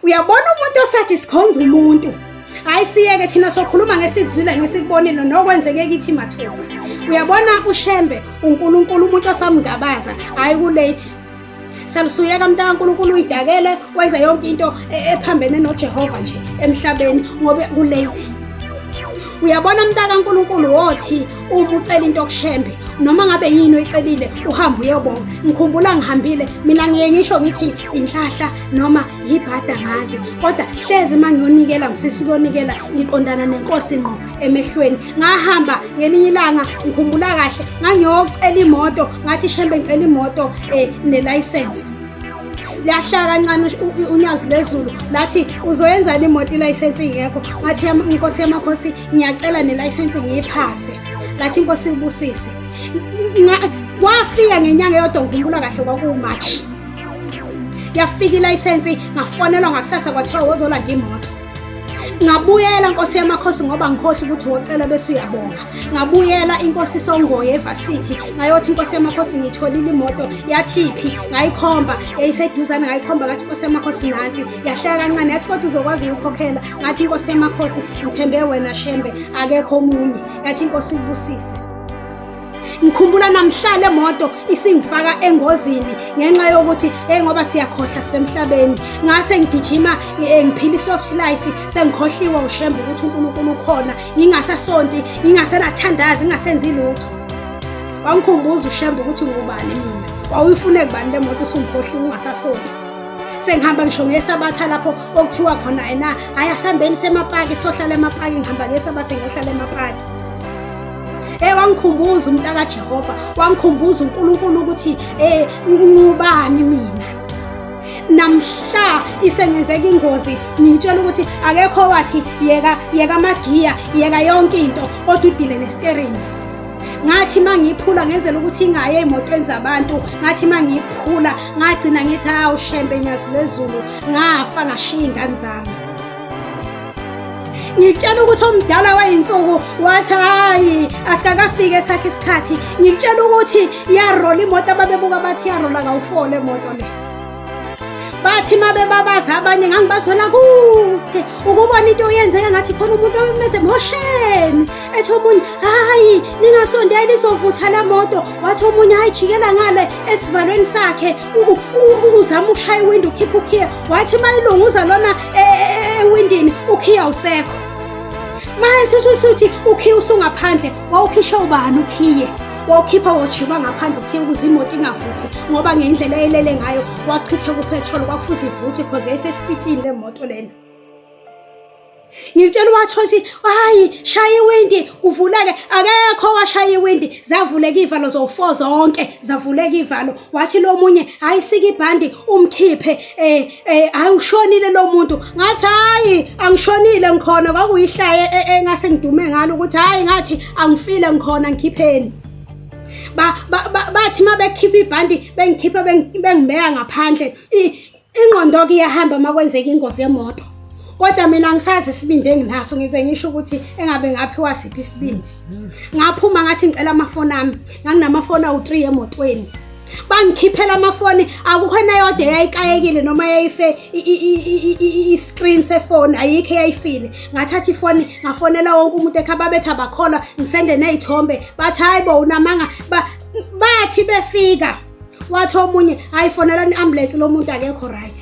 uyabona umuntu osathi sikhonza umuntu hayi siyeke thina sokhuluma ngesikuzwile ngesikubonile nokwenzeke kithi mathuba uyabona ushembe unkulunkulu umuntu osamngabaza hhayi kulate salusuyeka mntu kankulunkulu uyidakele wenza yonke into e, ephambene nojehova nje emhlabeni ngoba kulate uyabona mntu kankulunkulu wothi uma ucela into okushembe noma ngabe yini oyicelile uhambe uyobonga ngikhumbula ngihambile mina ngiye ngisho ngithi inhlahla noma yibhada ngazi kodwa hlezi uma ngiyonikela ngifisa ukuyonikela ngiqondana nenkosi ngqo emehlweni ngahamba ngelinye ilanga ngikhumbula kahle ngangiyocela imoto ngathi shembe ngicela imoto um nelayisensi lahlala kancane unyazi lezulu lathi uzoyenzani imoto ilayisensi ingekho ngathi inkosi yamakhosi ngiyacela nelayisensi ngiyiphase lathi inkosi ibusise wafika ngenyanga yodwa ngikhumbula kahle kwakuwumatshi yafika ilayisensi ngafonelwa ngakusasa kwathiwa wozolanda imoto ngabuyela nkosi yamakhosi ngoba ngikhohle ukuthi wocela bese uyabonga ngabuyela inkosi songoye evasithi ngayothi inkosi yamakhosi ngitholile imoto yathiphi ngayikhomba yayiseduzane ngayikhomba ngathi inkosi yamakhosi nansi yahleka kancane yathi kodwa uzokwazi ukukhokhela ngathi inkosi yamakhosi ngithembe wena shembe akekho omunye yathi inkosi ikubusise ngikhumbula namhlala emoto isingifaka engozini ngenxa yokuthi hey ngoba siyakhohla sisemhlabeni ngase ngigijima eh, ngiphila isoft life sengikhohliwe ushembe ukuthi uNkulunkulu ukhona ngingasasonti ngingasenathandazi ngingasenzi lutho wangikhumbuza ushembe ukuthi ngubani mina wawuyifune kubani lemoto usungikhohliwe ungasasonti sengihamba ngisho ngesabatha lapho okuthiwa khona yena hayi asihambeni semapaki sohlala emapaki ngihamba ngesabatha ngiyohlala emapaki Hey wangikhumbuza umntaka Jehova, wangikhumbuza uNkulunkulu ukuthi eh ngubani mina. Namhla isengenzeka ingozi ngitshela ukuthi akekho wathi yeka yeka amagiya, yeka yonke into kodwa udile nesteering. ngathi mangiyiphula ngenzela ukuthi ingaye emotweni zabantu ngathi mangiyiphula ngagcina ngithi hawu shembe nyazi lwezulu ngafa ngashiya ingane zami ngikutshela ukuthi omdala wayinsuku wathi hayi asikakafiki esakhe isikhathi ngikutshela ukuthi yarola imoto ababebuka bathi yarola kawufole moto le bathi mabebabaza abanye ngangibazwela kude ukubona into oyenzeka ngathi khona umuntu omemeze mosheni ethi omunye hayi ningasondeli izovutha la moto wathi omunye hayi jikela ngale esivalweni sakhe uzama ukushaya iwindi ukhipha ukhiya wathi uma ilunguza lona e, e, e, ewindini ukhiya usekho manje uthi uthi ukhiya usungaphandle wawukhisha ubani ukhiye wawukhipha wojima ngaphandle ukhiya ukuze imoto ingavuthi ngoba ngendlela elele ngayo wachitha kuphethroli kwakufuze ivuthi because yayisesipitini le moto lena ngitshela uwatho ukuthi hayi shaya iwindi kuvuleke akekho washaya iwindi zavuleka ivalo zowu-four zonke zavuleka ivalo wathi lo munye hhayi sika ibhandi umkhiphe um um hhayi ushonile lo muntu ngathi hhayi angishonile ngikhona kwakuyihlaye engase e, e, ngidume ngalo ukuthi hhayi ngathi angifile ngikhona ngikhipheni bathi uma bekhipha ibhandi bengikhipha bengibeka ngaphandle ingqondo-ke iyahamba uma kwenzeka ingozi yemoto kodwa mina ngisazi isibindi enginaso ngize ngisho ukuthi engabe ngaphiwa siphi isibindi ngaphuma ngathi ngicela amafoni ami nganginamafoni awu-three emotweni bangikhiphela amafoni akukho neyodwa eyayikayekile noma yayife i-screen sefoni ayikho eyayifile ngathatha ifoni ngafonela wonke umuntu ekha babethi abakholwa ngisende ney'thombe bathi hhayi bo unamanga bathi befika wathi omunye hayi fonela i-ambulance lo muntu akekho right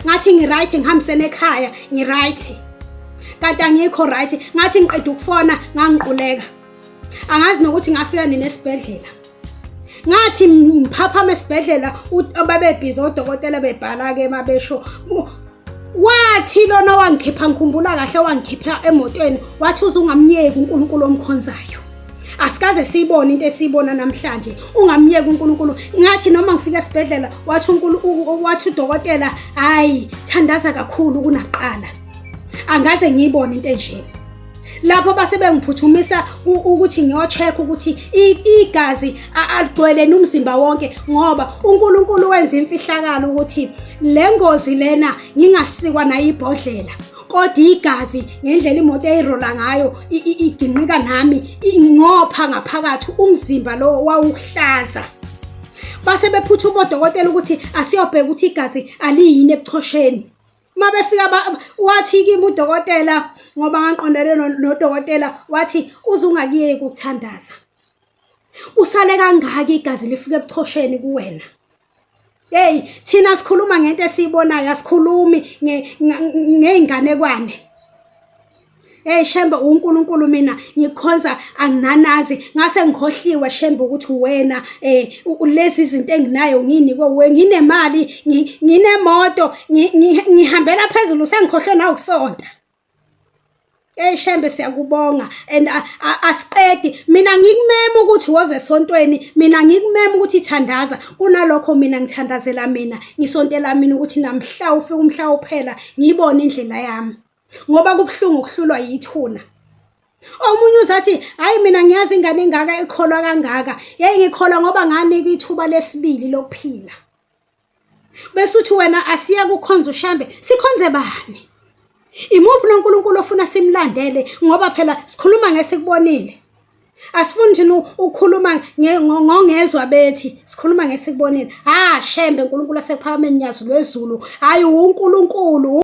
ngathi ngi-right ngihambisene ekhaya ngi-right kanti angikho right ngathi ngiqeda ukufona ngangiquleka angazi nokuthi ngafika nini esibhedlela ngathi ngiphaphama esibhedlela babebhizi odokotela bebhala-ke babesho wathi lona wangikhipha ngikhumbula kahle wangikhipha emotweni wathi uzungamnyeki uNkulunkulu omkhonzayo asikaze siyibone into esiyibona namhlanje ungamyeki uNkulunkulu ngathi noma ngifika esibhedlela wathi uNkulunkulu wathi udokotela hayi thandaza kakhulu kunaqala angaze ngiyibone into enjena lapho base bengiphuthumisa ukuthi ngiyocheck ukuthi igazi aligcweleni umzimba wonke ngoba uNkulunkulu wenza imfihlakalo ukuthi le ngozi lena ngingasikwa nayibhodlela kodwa igazi ngendlela imoto eyirola ngayo iginqika nami ingopha ngaphakathi umzimba lo wawuhlaza base bephutha ubodokotela ukuthi asiyobheka ukuthi igazi aliyini ebuchosheni uma befika wathi kimi udokotela ngoba ngangiqondene nodokotela wathi uze ungakuyeki ukuthandaza usale kangaki igazi lifike ebuchosheni kuwena hey thina sikhuluma ngento esiyibonayo asikhulumi ngeyinganekwane Hey Shembe uNkulunkulu mina ngikhonza anginanazi ngase ngikhohliwe Shembe ukuthi wena eh lezi izinto enginayo ngini ko we nginemali nginemoto ngihambela phezulu sengikhohlwe na ukusonta Hey Shembe siyakubonga and asiqedi mina ngikumema ukuthi woze esontweni mina ngikumema ukuthi ithandaza kunalokho mina ngithandazela mina ngisontela mina ukuthi namhla ufike umhla uphela ngiyibone indlela yami ngoba kubuhlungu ukuhlulwa yithuna omunye uzathi hayi mina ngiyazi ingane engaka ikholwa kangaka yayi ngikholwa ngoba nganikwa ithuba lesibili lokuphila bese uthi wena asiya kukhonza ushambe sikhonze bani imuphi nonkulunkulu ofuna simlandele ngoba phela sikhuluma ngesikubonile asifuni thina ukukhuluma ngongezwa bethi sikhuluma ngesikubonile ha shembe uNkulunkulu asekuphakameni nyazi lwezulu hayi uNkulunkulu